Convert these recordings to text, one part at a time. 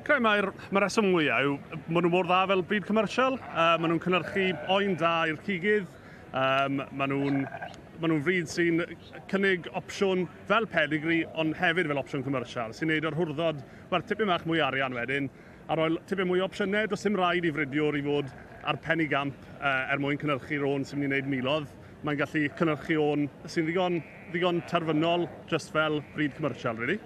Credu mai'r ma reswm mwyaf yw maen nhw mor dda fel bryd commersial. Uh, maen nhw'n cynnyrchu boen da i'r cigydd. Um, maen nhw'n maen nhw'n fryd sy'n cynnig opsiwn fel pedigree, ond hefyd fel opsiwn commersial, sy'n neud o'r hwrddod werth tipyn bach mwy arian wedyn, a roi tipyn mwy o opsiynau, does dim rhaid i fridiwr i fod ar pen i gamp uh, er mwyn cynnyrchu rôn sy'n mynd i wneud milodd. Mae'n gallu cynnyrchu o'n sy'n ddigon, ddigon terfynol, just fel bryd commersial, really.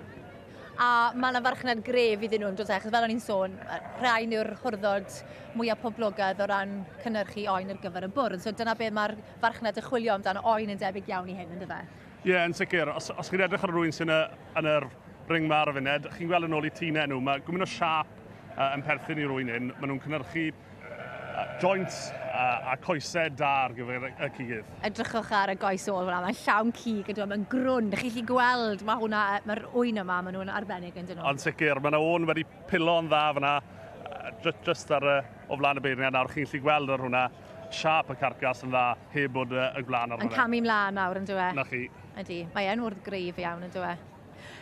A mae yna farchnad gref iddyn nhw, does e? Achos fel o'n i'n sôn, rhain yw'r hwrddod mwyaf poblogaidd o ran cynnyrchu oen ar gyfer y bwrdd. So dyna beth mae'r farchnad yn chwilio amdano oen yn debyg iawn i hyn, yn dyfe? Ie, yeah, yn sicr. Os, os chi'n edrych ar rwy'n sy'n y, yn yr ring ma ar y funud, chi'n gweld yn ôl i tîn enw, mae gwmyn o siap uh, yn perthyn i rwy'n hyn. Maen nhw'n cynnyrchu Joint a, a coesau da ar gyfer y cig. Edrychwch ar y goes ôl fyna, mae'n llawn cig, ydw, mae'n grwn. Dych chi'n gallu gweld, mae hwnna, mae'r ŵyn yma, maen nhw'n arbennig yn dyn nhw. Ond sicr, mae yna ŵyn wedi pilo'n dda fyna, just ar y, o flaen y beirniad nawr, chi'n gallu gweld ar hwnna, siap y carcas yn dda, heb bod y gwlân ar hwnna. Yn camu mlaen nawr, yn dyw e? Na chi. Ydy, mae e'n wrdd greif iawn, yn dyw e?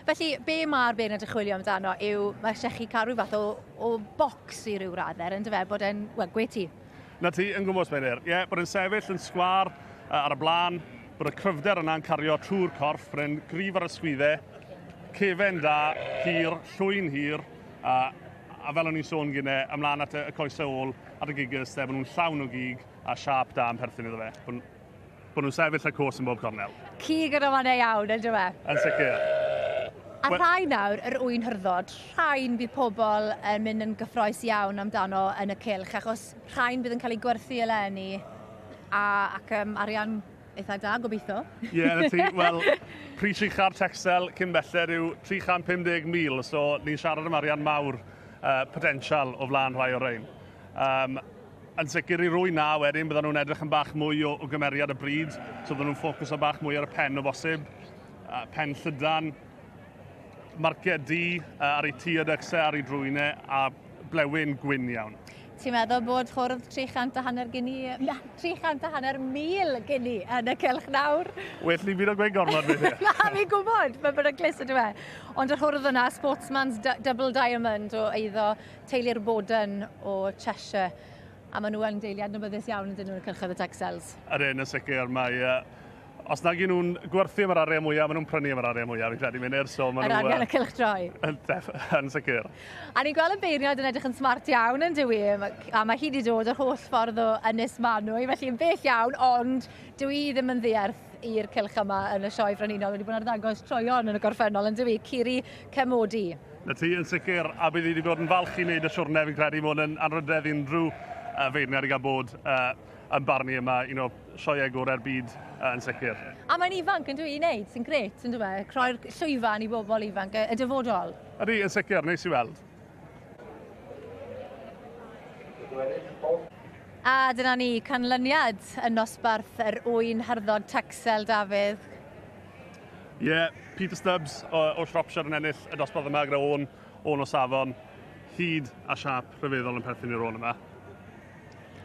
Felly, be mae'r beirniad yn chwilio amdano yw, mae eisiau chi cael rhyw fath o, o bocs i ryw radder, yn dyfe, bod e'n, wel, gwe ti. Na ti, yn gwmws, Meirdyr. Ie, bod e'n sefyll yn sgwâr ar y blaen, bod y cryfder yna'n cario trwy'r corff, bod e'n gryf ar y sgwydde, cefen da, hir, llwy'n hir, a, a fel o'n i'n sôn gynne, ymlaen at y, y coesau ôl, at y giggers, de, bod nhw'n llawn o gig a siâp da yn perthyn iddo fe. Bod Bod nhw'n sefyll a cwrs yn bob cornel. Cig yn amana iawn, yn dyw e? Yn sicr. A Wel- rhai nawr, yr ŵyn hyrddod, rhain bydd pobl yn mynd yn gyffroes iawn amdano yn y cylch, achos rhain bydd yn cael eu gwerthu eleni, a, ac um, arian eitha da, gobeithio. Ie, yeah, na ti. Wel, pris uchaf Texel cyn belled yw 350,000, so ni'n siarad am arian mawr uh, potensial o flaen rhai o'r rhain. Um, yn sicr i rwy'n na, wedyn byddan nhw'n edrych yn bach mwy o, o gymeriad y bryd, so byddan nhw'n ffocws o bach mwy ar y pen o bosib, uh, pen llydan, marciau di uh, ar ei tu a dycsau ar ei drwynau a blewyn gwyn iawn. Ti'n meddwl bod cwrdd 300 a hanner gini, 300 a hanner mil gini yn y cylch nawr? Well ni byd o gweud gormod beth yw. Na, fi'n gwybod, mae'n bod yn glis ydw e. Ond yr hwrdd yna, Sportsman's Double Diamond o eiddo Teulu'r Bowden o Cheshire, a maen nhw yn deulu adnabyddus iawn ydyn nhw yn y cylchoedd y Texels. Yr un yn sicr, mae yy os nag 'yn nhw'n gwerthu am yr arian mwya, ma' nhw'n prynu am yr arian mwya fi'n credu Mynir, so ma' nhw... Yr arian y cylchdroi. Yn def- yn sicr. A ni'n gweld y beirniad yn edrych yn smart iawn yn dyw 'i, a mae hi wedi dod yr holl ffordd o Ynys Manu, felly yn bell iawn, ond dyw 'i ddim yn ddiarth. help i'r cylch yma yn y Sioe Frenhinol. Wedi bod yn arddangos troeon yn y gorffennol, yn dywi, Ciri Cemodi. Na ti, yn sicr, a bydd wedi bod yn falch i wneud y siwrne, fi'n credu bod yn anrhydedd unrhyw uh, feirniad i gael bod uh, yn barnu yma, un o sioeau gorau'r byd uh, yn sicr. A mae'n ifanc yn dwi i wneud, sy'n gret, yn dwi, croi'r llwyfan i bobl ifanc y dyfodol. Ydy, yn sicr, neis i weld. A dyna ni, canlyniad yn nosbarth yr ŵyn harddod Texel, Dafydd. Ie, yeah, Peter Stubbs o, o Shropshire yn ennill y dosbarth yma gyda o'n, o'n o safon hyd a siap rhyfeddol yn perthyn i'r ôn yma.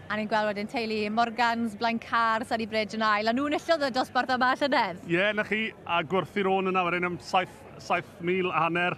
A ni'n gweld wedyn teulu Morgans, Blaen Car, Sunny Bridge yn ail, a nhw'n illodd y dosbarth yma llynedd. Ie, yeah, na chi, a gwerthu'r ôn yn awr yn am 7,000 a hanner,